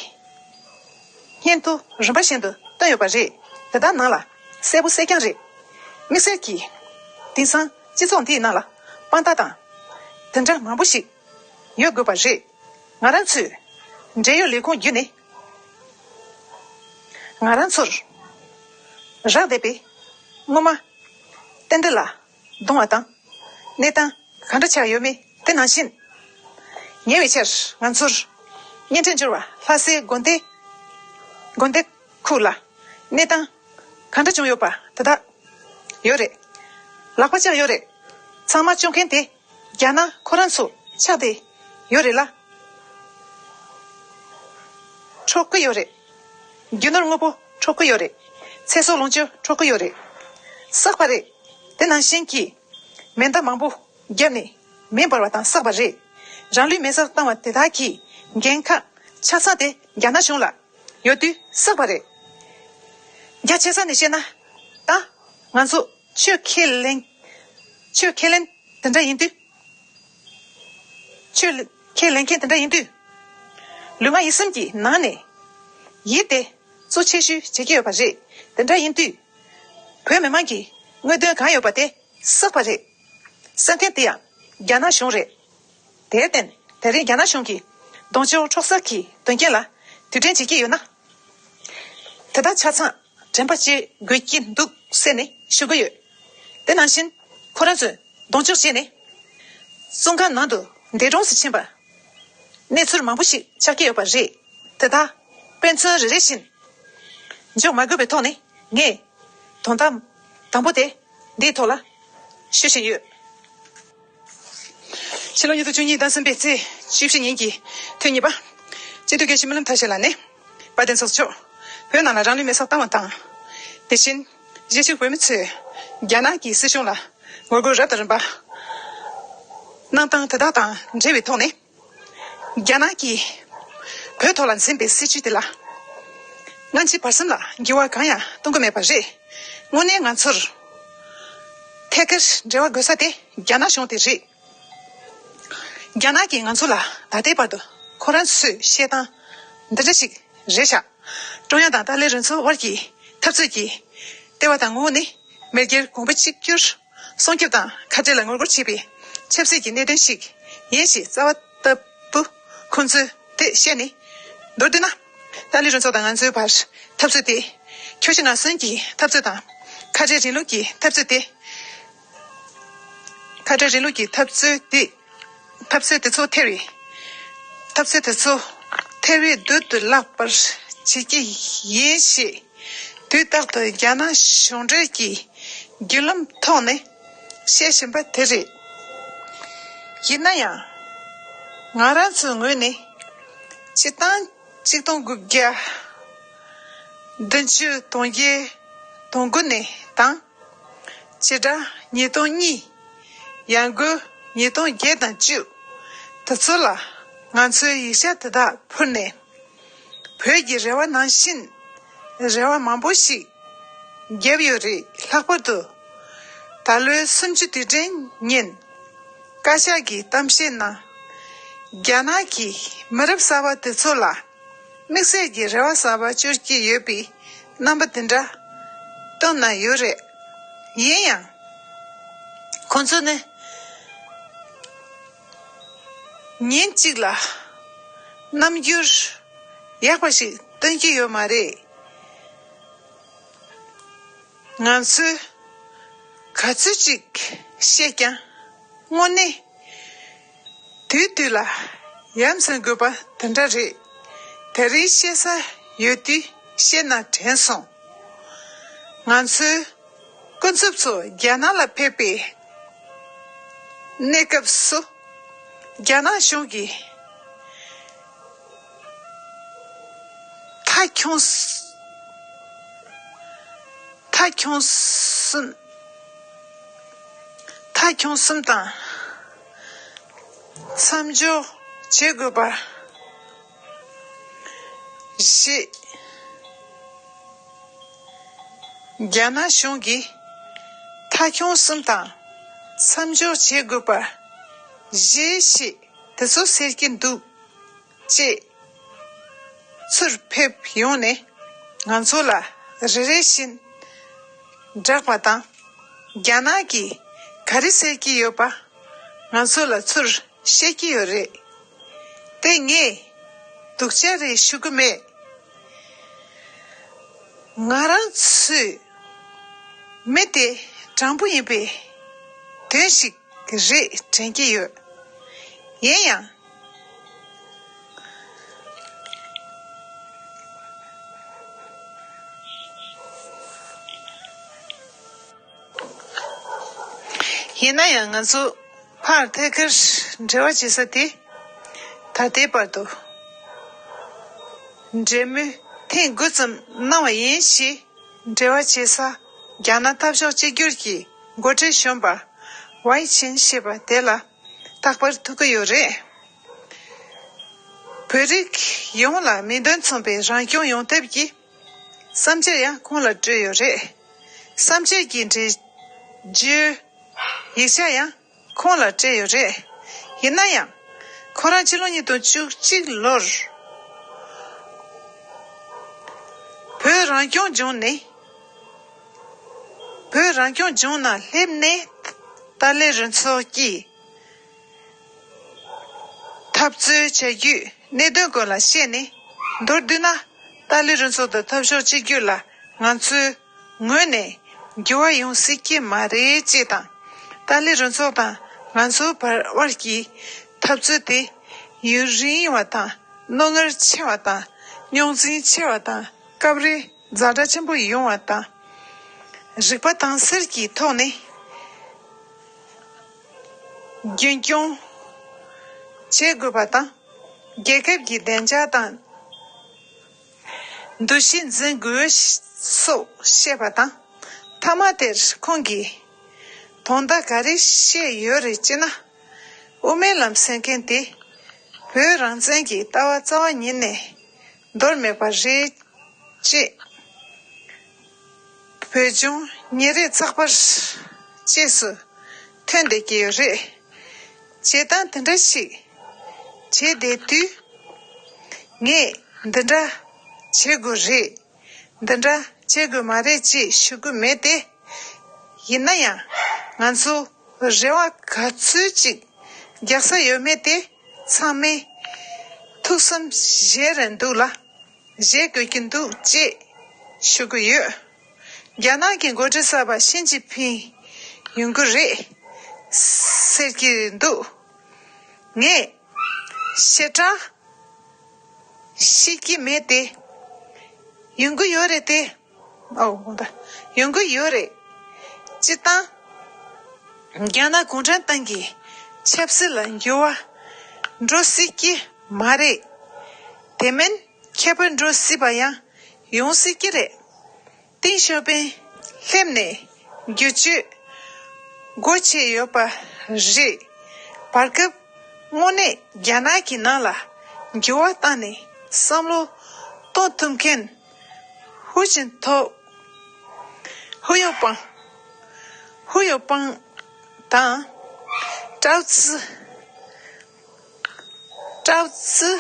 སྙན་ཐོ་རིམ་པ་བཞིན་དུ་བཏོན་ཡོད་པ་རེད། དེ་དག་ནང་ལ་གསལ་པོ་གསལ་རྐྱང་རེད། དམིགས་བསལ་གྱིས་དེང་སང་སྤྱི་ཚོགས་འདིའི་ནང་ལ་དཔང་རྟགས་དང་དེ་འདྲ་མང་པོ་ཞིག་ཡོད་དགོས་པ་རེད། ང་རང་ཚོའི་འབྲེལ་ཡོད་ལས་ཁུངས་བརྒྱུད་ནས་ང་རང་ཚོར་རག་བསྡད་པའི་སྔོན་མ་རྟེན་འབྲེལ་ལ། གདུང་བ་དང། ནད་དང། གང་འདྲ་ཆགས་ཡོད་མེད་དེ་ནང་བཞིན། ཉེ་བའི་ཆར་ང་ཚོར། བརྙན་འཕྲིན་འབྱོར་བ་ལྷ་སའི་དགོན་སྡེ། དགོན་སྡེ། ཁུག་ལ། གནས་སྟངས། གང་འདྲ་བྱུང་ཡོད་པ་དེ་དག། ཡོད་རེད། ལག་པ་བཅག་ཡོད་རེད། ཚང་མ་བཅོ་མཁན་དེ། རྒྱ་ནག་ཁོ་རང་ཚོ་ཆགས་བསྡད་ཡོད་རེད་ལ། འཕྲོག་གི་ཡོད་རེད། རྒྱུ་ནོར་དངོས་པོ་འཕྲོག་གི་ཡོད་རེད། ཚེ་སྲོག་ལོངས་སྤྱོད་འཕྲོག་གི་ཡོད་རེད། བསགས་པ་རེད། དེ་ནང་བཞིན་གྱི། མེ་མདའ་མང་པོ་བརྒྱབ་ནས་མེ་འབར་བ་དང་བསགས་པ་རེད། རང་ལུས་མེ་སར་བཏང་བ་དེ་དག་གི་འགན་ཁག་ཆ་ཚང་དེ་རྒྱ་ནག་གཞུང་ལ་ཡོད་དུས་བསགས་པ་རེད། རྒྱ་ཆེ་ས་ནས་བཤད་ན་ད་ང་ཚོ་ཆོས་ཁས་ལེན། ཆོས་ཁས་ལེན་དེ་འདྲ་ཡིན་དུས། ཆོས་ཁས་ལེན་མཁན་དེ་འདྲ་ཡིན་དུས། ལུས་ངག་ཡིད་གསུམ་གྱི་ནང་ནས་ཡིད་བདེ་གཙོ་ཆེ་ཤོས་བྱེད་ཀྱི་ཡོད་པ་རེད། དེ་འདྲ་ཡིན་དུས། བོད་མི་དམངས་ཀྱིས་དངོས་དོན་གང་ཡོད་པ་དེ་བསགས་པ་རེད། བསགས་མཁན་དེ་ཡང་རྒྱ་ནག་གཞུང་རེད། དེར་བརྟེན་དེ་རིང་རྒྱ་ནག་གཞུང་གིས་གདོང་ཕྱིར་འཕྲོག་གསར་གྱི་དོན་རྐྱེན་ལ་དུས་དྲན་བྱེད་ཀྱི་ཡོད་ན། དེ་དག་ཆ་ཚང་དྲན་པ་བྱེད་དགོས་ཀྱི་འདུག་ཟེར་ནས་ཞུ་གི་ཡོད། དེ་ནང་བཞིན་ཁོ་རང་ཚོས་གདོང་ཕྱིར་བྱས་ནས། བཙོན་ཁང་ནང་དུ་འདས་གྲོངས་སུ་ཕྱིན་པ། གནས་ཚུལ་མང་པོ་ཞིག་ཆགས་ཀྱི་ཡོད་པ་རེད། དེ་དག་དཔེ་མཚོན་རེ་རེ་བཞིན་འཇོག་མ་དགོས་པའི་ཐོག་ནས་ངས་དོན་དག་དང་པོ་དེ་འདིའི་ཐོག་ལ་ཤོད་བཞིན་ཡོད། ཕྱི་ལོ་ཉིས་སྟོང་བཅུ་གཉིས་དང་གསུམ་པའི་ཚེས་བཅུ་བཞི་ཉིན་གྱི་ཐེངས་གཉིས་པ་སྤྱི་འཐུས་དགེ་བཤེས་རྨི་ལམ་ཐར་ཤེས་ལགས་ནས་དཔལ་ལྡན་ཚོགས་མཆོག་བོད་ནང་ལ་རང་ལུས་མེ་སྲེག་བཏང་བ་དང། དེ་བཞིན། གཞིས་བྱེས་བོད་མི་ཚོས་རྒྱ་ནག་གི་སྲིད་གཞུང་ལ་ངོ་རྒོལ་རབ་དང་རིམ་པ་གནང་སྟངས་དེ་དག་དང་འབྲེལ་བའི་ཐོག་ནས། རྒྱ་ནག་གིས་བོད་ཐོག་ལ་འཛིན་པའི་སྲིད་བྱུས་དེ་ལ་སྔ་ཕྱི་བར་གསུམ་ལ་འགྱུར་བ་གང་ཡང་གཏོང་གི་མེད་པ་རེད། དངོས་གནས་ང་ཚོར་ཐད་ཀར་འབྲེལ་བ་དགོས་ས་དེ་རྒྱ་ནག་གཞུང་དེ་རེད། རྒྱ་ནག་གིས་ང་ཚོ་ལ་ད་ལྟའི་བར་དུ་ཁོ་རང་ཚོས་བཤད་སྟངས་འདི་འདྲ་ཞིག་རེད་ཤག། ཀྲུང་དབྱང་དང་ཏཱ་ལའི་རུ་མཚོའི་དབར་གྱི་འཐབ་རྩོད་ཀྱི་ལྟེ་བ་དང་ངོ་བོ་ནི་མེས་རྒྱལ་གོང་བུ་གཅིག་གྱུར་སྲུང་སྐྱོབ་དང་ཁ་བྲལ་ལ་ངོ་རྒོལ་བྱེད་པའི་ཆབ་སྲིད་ཀྱི་གནད་དོན་ཞིག་ཡིན་ཞེས་རྩ་བ་ལྟ་བུ་ཁོང་ཚོས་དེ་བཤད་ནས། མདོར་བསྡུས་ན། ཏཱ་ལའི་རུ་མཚོ་དང་ང་ཚོའི་བར་འཐབ་རྩོད་དེ། ཁྱོ་ཤི་ང་གསོན་གྱི་འཐབ་རྩོད་དང། ཁ་བྲལ་རིང་ལུགས་ཀྱི་འཐབ་རྩོད་དེ། ཁ་བྲལ་རིང་ལུགས་ཀྱི་འཐབ་རྩོད་དེ། འཐབ་རྩོད་དེ་ཚོ་ཐལ་བའི། འཐབ་རྩོད་དེ་ཚོ་ཐལ་བའི་རྡུལ་དུ་བརླག་པར་བྱེད་ཀྱི་ཡིན་ཞེས། དུས་རྟག་ཏུ་རྒྱ་ནག་གཞུང་འབྲེལ་གྱི་བརྒྱུད་ལམ་ཐོག་ནས་བཤད་བཞིན་པ་དེ་རེད། ཡིན་ན་ཡང། ང་རང་ཚོའི་ངོས་ནས། སྤྱི་སྟངས་གཅིག་སྟོང་དགུ་བརྒྱ། བདུན་ཅུ་དང་བརྒྱད་དང་དགུ་ནས་དང། སྤྱི་སྒྲ། ཉིས་སྟོང་གཉིས། ཡང་སྒོས། ཉིས་སྟོང་བརྒྱད་དང་བཅུ། དེ་ཚོ་ལ། ང་ཚོས་ཡིག་ཆ་དེ་དག་ཕུར་ནས། བོད་ཀྱི་རེ་བ་ནང་བཞིན། རེ་བ་མང་པོ་ཞིག། བརྒྱབ་ཡོད་རེད་ལྷག་པར་དུ། ད་ལོའི་སུམ་ཅུ་དུས་དྲན་ཉིན། བཀའ་ཤག་གི་གཏམ་བཤད་ནང། རྒྱ་ནག་གི་མི་རབས་གསར་བ་དེ་ཚོ་ལ། དམིགས་བསལ་གྱི་རེ་བ་གསར་པ་སྤྱོད་ཀྱི་ཡོད་པའི་རྣམ་པ་དེ་འདྲ་སྟོན་ན་ཡོད་རེད། ཡིན་ཡང། ཁོང་ཚོ་ནི། ཉིན་གཅིག་ལ། རྣམ་འགྱུར། ཡག་པ་ཞིག་སྟོན་གྱི་ཡོད་མ་རེད། ང་ཚོས། ག་ཚོད་ཅིག་བཤད་ཀྱང། དངོས་གནས། དེའི་དུས་ལ་ཡ་མཚན་དགོས་པ་དེ་འདྲ་རེད། དེ་རིང་བཤད་ས་ཡོད་དུས་བཤད་ན་དྲན་སོང། ང་ཚོའི་སྐུ་འཚུབ་ཚོ་རྒྱ་ནག་ལ་ཕེབས་པའི་གནས་སྐབས་སུ། རྒྱ་ནག་གཞུང་གིས་མཐའ་འཁྱོངས་གསུམ་དང། མཚམས་འཇོག་བྱེད་དགོས་པ། བཞི། རྒྱ་ནག་གཞུང་གིས་མཐའ་འཁྱོངས་གསུམ་དང་མཚམས་འཇོག་བྱེད་དགོས་པ། བཞི། དེ་ཚོ་ཟེར་གྱི་འདུག། ཅེས་ཚུར་ཕེབས་ཡོང་ནས་ང་ཚོ་ལ་རེ་རེ་བཞིན་བསྒྲགས་པ་དང། རྒྱ་ནག་གིས་ག་རེ་ཟེར་གྱི་ཡོད་པ་ང་ཚོ་ལ་ཚུར་བཤད་ཀྱི་ཡོད་རེད། དེ་ངས་སྡུག་ཅག་རེད་ཞུ་གི་མེད། ང་རང་ཚོའི་མི་དེ་དྲང་པོ་ཡིན་པའི་དོན་ཞིག་རེད་དྲན་གྱི་ཡོད། ཡིན་ཡང། ཡིན་ན་ཡང་ང་ཚོ་ཕར་ཐད་ཀར་འབྲེལ་བ་བྱེད་ས་དེ་ད་ལྟའི་བར་དུ་འབྲེལ་མོལ་ཐེངས་དགུ་ཙམ་གནང་བ་ཡིན་ཞེས་འབྲེལ་བ་བྱེད་ས་རྒྱ་ནག་འཐབ་ཕྱོགས་གཅིག་གྱུར་གྱི་མགོ་ཁྲིད་གཞོན་པ་ཝའེ་ཆིན་ཞེས་པ་དེ་ལ་ཐག་པར་ཐུག་གི་ཡོད་རེད། བོད་རིགས་ཡོངས་ལ་མིང་དོན་མཚུངས་པའི་རང་སྐྱོང་ཡོང་ཐབས་ཀྱི་བསམ་འཆར་ཡང་ཁོང་ལ་སྤྲོད་ཡོད་རེད། བསམ་འཆར་གྱི་འགྲེལ་བརྗོད་ཡིག་ཆ་ཡང་ཁོང་ལ་སྤྲད་ཡོད་རེད། ཡིན་ན་ཡང། ཁོ་རང་ཕྱི་ལོ་ཉིས་སྟོང་བཅུ་གཅིག་ལོར་བོད་རང་སྐྱོང་ལྗོངས་ནས། བོད་རང་སྐྱོང་ལྗོངས་ནང་སླེབས་ནས། ཏཱ་ལའི་རུ་ཚོགས་ཀྱིས་འཐབ་རྩོད་བྱ་རྒྱུའི་གནད་དོན་སྐོར་ལ་བཤད་ནས། མདོར་བསྡུས་ན། ཏཱ་ལའི་རུ་ཚོགས་དང་འཐབ་ཕྱོགས་གཅིག་གྱུར་ལ་ང་ཚོའི་ངོས་ནས་འགྱུར་བ་ཡོང་སྲིད་ཀྱི་མ་རེད་ཅེས་དང། ཏཱ་ལའི་རུ་ཚོགས་དང་ང་ཚོའི་བར་དབར་གྱི་འཐབ་རྩོད་དེ། ཡུན་རིང་བ་དང་རྣོ་ངར་ཆེ་བ་དང་རྙོག་འཛིང་ཆེ་བ་དང་སྐབས་རེ། རྫ་སྒྲ་ཆེན་པོ་ཡོང་བ་དང། རིག་པ་དྭངས་གསལ་གྱི་ཐོག་ནས། རྒྱུན་སྐྱོང་བྱེད་དགོས་པ་དང། རྒྱལ་ཁབ་ཀྱི་བདེ་འཇགས་དང། འདུ་ཤེས་འཛིན་དགོས་སོགས་བཤད་པ་དང། མཐའ་མ་དེར་ཁོང་གིས། དོན་དག་ག་རེ་བཤད་ཡོད་རེད་ཅེ་ན། དབུ་མའི་ལམ་སེང་མཁན་དེ། བོད་རང་བཙན་གྱི་ལྟ་བ་རྩ་བ་ཉིད་ནས། མདོར་མེད་པར་རེད། ཅེས། བོད་ལྗོངས་ཉིན་རེའི་ཚགས་པར། ཅེས་སུ། ཐོན་བསྡད་ཀྱི་ཡོད་རེད། བྱེད་སྟངས་དེ་འདྲ་ཞིག། བྱས་བསྡད་དུས། ངས། འདི་འདྲ། བྱེད་དགོས་རེད། འདི་འདྲ། བྱེད་དགོས་མ་རེད་ཅེས་ཞུ་གི་མེད་དེ། ཡིན་ན་ཡང། ང་ཚོ། རེ་བ་ག་ཚོད་ཅིག། རྒྱག་ས་ཡོད་མེད་དེ། ཚང་མས། ཐུགས་བསམ་བཞེས་རན་འདུག་ལ། བཞེས་དགོས་ཀྱི་འདུག་ཅེས་ཞུ་གི་ཡོད། རྒྱ་ནག་གི་འགོ་ཁྲིད་གསར་པ་ཞིན་ཅིན་ཕིན་ཡོང་གི་རེད། ཟེར་གྱི་འདུག་ངས། ཞེ་དྲགས། ཤེས་ཀྱི་མེད་དེ། ཡོང་གི་ཡོད་རེད་དེ། ཡོང་གི་ཡོད་རེད། སྤྱིར་བཏང། རྒྱ་ནག་གུང་ཁྲན་ཏང་གི་ཆབ་སྲིད་ལ་འགྱུར་བ་འགྲོ་སྲིད་ཀྱི་མ་རེད། དེ་མིན་ཁྱད་པར་འགྲོ་སྲིད་པ་ཡང་ཡོང་སྲིད་ཀྱི་རེད། ཏིང་ཞོ་ཕིན་སླེབས་ནས་བསྒྱུར་བཅོས་སྒོ་ཕྱེ་ཡོད་པ་རེད། བར་སྐབས་དངོས་གནས་རྒྱ་ནག་གི་ནང་ལ་འགྱུར་བ་བཏང་ནས་བསམ་བློ་གཏོང་ཐུབ་མཁན། ཧུའུ་ཅིན་ཐོ། ཧུའུ་ཡོ་པང། ཧུའུ་ཡོ་པང་དང། ཀྲའོ་ཙི། ཀྲའོ་ཙི།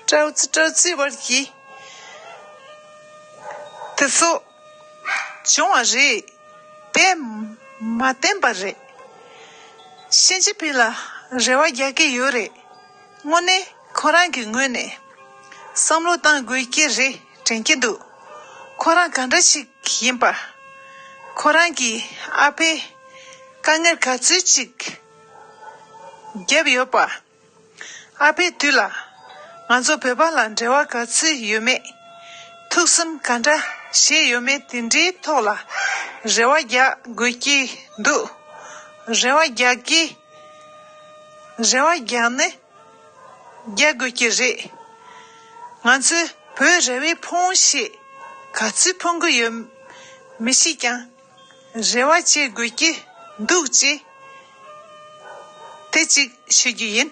ཀྲའོ་ཙི་ཀྲའོ་ཙི་བར་གྱི། དེ་ཚོ། བྱུང་བ་རེད། དེ། མ་བསྟན་པ་རེད། ཤིན་ཅི་ཕིན་ལ་རེ་བ་རྒྱག་གི་ཡོད་རེད། དངོས་གནས་ཁོ་རང་གི་ངོས་ནས། བསམ་བློ་གཏང་དགོས་ཀྱི་རེད་དྲན་གྱི་འདུག་ཁོ་རང་ག་འདྲ་ཞིག་ཡིན་པ། ཁོ་རང་གི་ཨ་ཕས་དཀའ་ངལ་ག་ཚོད་ཅིག་བརྒྱབ་ཡོད་པ། ཨ་ཕའི་དུས་ལ་ང་ཚོ་བོད་པ་ལ་འབྲེལ་བ་ག་ཚོད་ཡོད་མེད། ཐུགས་སེམས་ག་འདྲ་བཞེས་ཡོད་མེད་དེ་འདྲའི་ཐོག་ལ་རེ་བ་རྒྱག་དགོས་ཀྱི་འདུག་རེ་བ་རྒྱག་གི། རེ་བ་རྒྱག་ནི་རྒྱག་དགོས་ཀྱི་རེད། ང་ཚོའི་བོད་རེ་བའི་ཕུང་ཞེས་ག་ཚོད་ཕུང་གི་ཡོད་མི་ཤེས་ཀྱང། རེ་བ་བྱེད་དགོས་ཀྱི་འདུག་ཅེས་དེ་གཅིག་ཤོད་རྒྱུ་ཡིན།